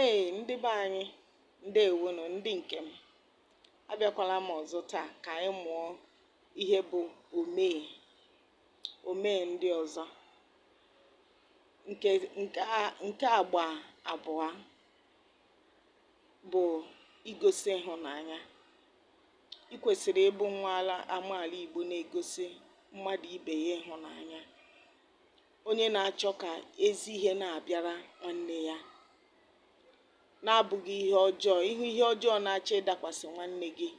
Ee ndị be anyị ndewonu ndị nke m abịakwala m ọzọ taa ka anyị mụọ ihe bụ omee omee ndị ọzọ nke nke a nke agba abụọ bụ igosi ịhụnanya ị kwesịrị ịbụ nwa ala amaala Igbo na-egosi mmadụ ibe ya ịhụnanya onye na-achọ ka ezi ihe na-abịara nwanne ya na-abụghị ihe ọjọọ ị hụ ihe ọjọọ na-achọ ịdakwasị nwanne gị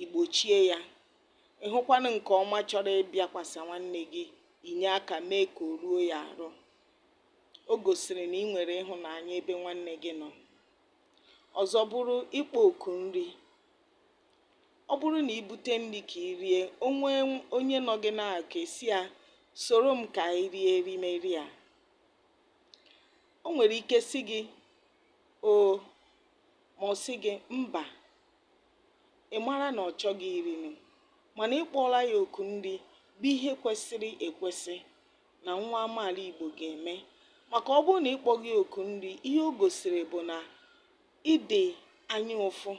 i gbochie ya ị hụkwanụ nke ọma chọrọ ịbịakwasị nwanne gị i nye aka mee ka o ruo ya arụ o gosiri na ị nwere ịhụnanya ebe nwanne gị nọ ọzọ bụrụ ịkpọ oku nri Ọ bụrụ na i bute nri ka i rie, o nwee onye nọ gị n'akụkụ, ị sị ya, Soro m ka anyị rie erimeri a. O nwere ike sị gị, Oo, ma ọ sị gị, Mba. Ị mara na ọ chọghị iri nri, mana ị kpọọla ya oku nri bụ ihe kwesịrị ekwesị na nwa amaala Igbo ga-eme. Maka ọ bụrụ na ị kpọghị ya oku nri, ihe o gosiri bụ na Ị dị anya ụfụ.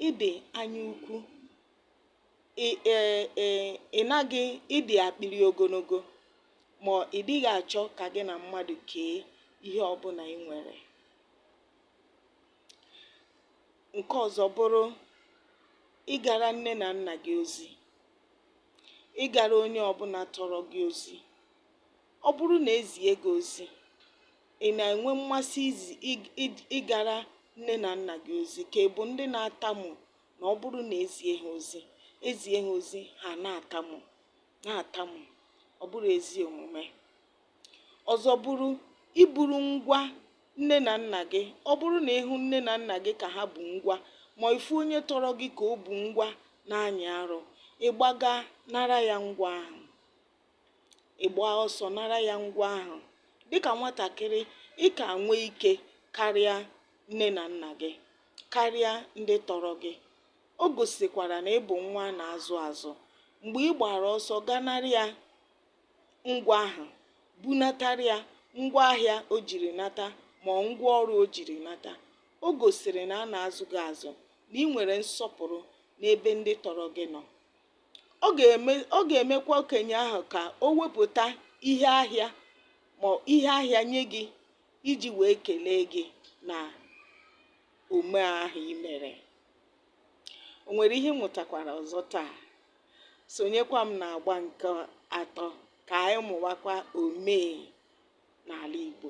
Ị dị anya ukwu. Ị e, e, ị naghị, ị dị akpịrị ogologo ma ị dịghị achọ ka gị na mmadụ kee ihe ọbụla ị nwere. Nke ọzọ bụrụ ịgara nne na nna gị ozi, ịgara onye ọbụla tọrọ gị ozi. Ọ bụrụ na e zie gị ozi, ị na-enwe mmasị ịgara nne na nna gị ozi ka ị bụ ndị na-atamu na ọ bụrụ na e zie ha ozi e zie ha ozi ha na-atamu na-atamu ọ bụrọ ezi omume ọzọ bụrụ iburu ngwa nne na nna gị ọ bụrụ na ị hụ nne na nna gị ka ha bu ngwa ma ị fụ onye tọrọ gị ka o bu ngwa na-anyị arụ ị gbaga nara ya ngwa ahụ ị gbaa ọsọ nara ya ngwa ahụ. Dịka nwatakịrị, ị ka nwee ike karịa nne na nna gị, karịa ndị tọrọ gị. O gosikwara na ị bụ nwa a na-azụ azụ. Mgbe ị gbara ọsọ ga nara ya ngwa ahụ, bunatara ya ngwa ahịa o jiri nata ma ọ ngwa ọrụ o jiri nata, o gosiri na a na-azụ gị azụ, na ị nwere nsọpụrụ n'ebe ndị tọrọ gị nọ. ọ ga-eme ọ ga-emekwa okenye ahụ ka o wepụta ihe ahịa ma ihe ahịa nye gị iji wee kelee gị na omee ahụ i mere o nwere ihe ị mụtakwara ọzọ taa sonyekwa m na agba nke atọ ka anyị mụwakwa omee n'ala Igbo